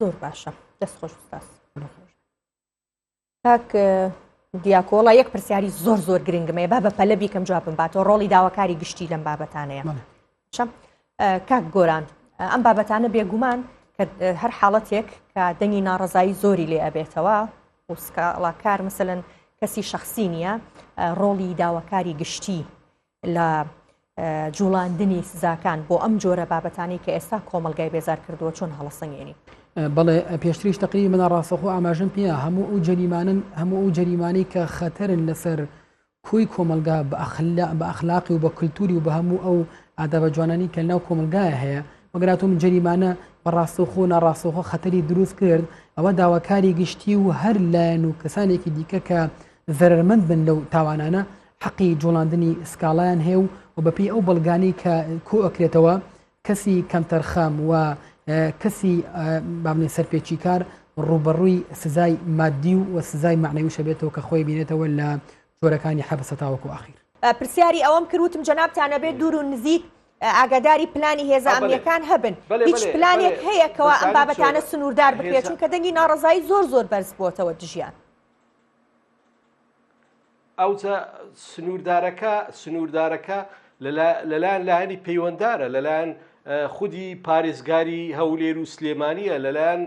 زۆر باشە دەست خۆش دەست. کاک دیاکۆ وڵا یەک پرسیاری زۆر زۆر گرنگمەیە با بە پەلە بیکەم جوابم باتەوە ڕۆڵی داواکاری گشتی لەم بابەتانەیە شەم کاک گۆران ئەم بابەتانە بێگومان کە هەر حاڵەتێک کە دەنگی ناڕزایی زۆری لێ ئەبێتەوە وسکاڵاکار مثلەن کەسی شخصی نییە ڕۆڵی داواکاری گشتی لە جوڵاندنی سزاکان بۆ ئەم جۆرە بابەتانی کە ئێستا کۆمەلگای بێزار کردووە چۆن هەڵسەنگێنی بەڵێ پێشتریش تقریبی منە ڕاستەخۆ ئاماژم پێ هەموو ئەو جەریمانن هەموو ئەو جەریمانەی کە خەتەرن لەسەر کوی کۆمەلگا بە ئەخلاقی و بە کللتوری و بە هەموو ئەو ئادابە جوانانی کە ناو کۆمەلگایە هەیە وەگەراتۆم جەریمانە بە ڕاستەخۆ ناڕاستەخۆ خەتەری دروست کرد ئەوە داواکاری گشتی و هەر لایەن و کەسانێکی دیکە کە زەرمەند بن لەو تاوانانە حەقی جوڵاندنی سکاڵایان هەیە و بەپێی ئەو بەڵگانەی کە کۆ ئەکرێتەوە کەسی کەمتەرخەم و کەسی بابنێ سەرپێچیکار ڕوبەڕووی سزای مادی و و سزای معنەوی شەبێتەوە کە خۆی بینێتەوە لە جۆرەکانی حەبسە تاوەکو ئاخیر پرسیاری ئەوەم کردوتم جەنابتانە بێت دوور و نزیک ئاگاداری پلانی هێزە ئەمنیەکان هەبن هیچ پلانێک هەیە کەوا ئەم بابەتانە سنووردار بکرێت چونکە دەنگی ناڕزایی زۆر زۆر بەرز بووتەوە دژیان ئەو سنووردارەکە سنووردارەکە لەلایەن لایەنی پەیوەنددارە لەلایەن خودی پارێزگاری هەولێر و سلێمانیە لەلایەن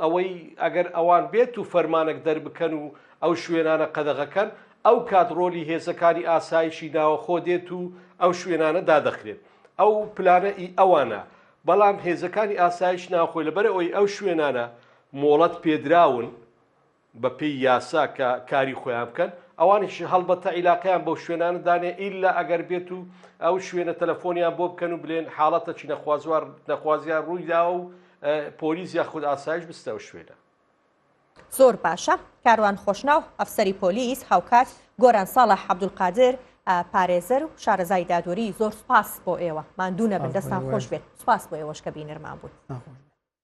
ئەوەی ئەگەر ئەوان بێت و فەرمانەک دەربکەن و ئەو شوێنانە قەدەغەکەن ئەو کات ڕۆلی هێزەکانی ئاسایشی ناوەخۆ دێت و ئەو شوێنانە دادەخرێت ئەو پلانە ئی ئەوانە بەڵام هێزەکانی ئاسایش ناخۆی لەبەر ئەوی ئەو شوێنانە مۆڵەت پێدراون بە پێی یاسا کە کاری خۆیان بکەن ئەوانیش هەڵبەتە عیلاقیان بەو شوێنانە دانێ ئیلا ئەگەر بێت و ئەو شوێنە تەلەفۆنیان بۆ بکەن و بلێن حاڵەتە چی نەخوازوار نەخوازیان ڕوویدا و پۆلیس یا خود ئاسایش بستە و شوێنە زۆر باشە کاروان خۆشناو ئەفسەری پۆلیس هاوکات گۆران ساڵە عبدولقادر پارێزەر و شارەزای دادوەری زۆر سپاس بۆ ئێوە مادوونە بن دەستان خۆش بێت سپاس بۆ ئێوەشکە بینەرمان بوون.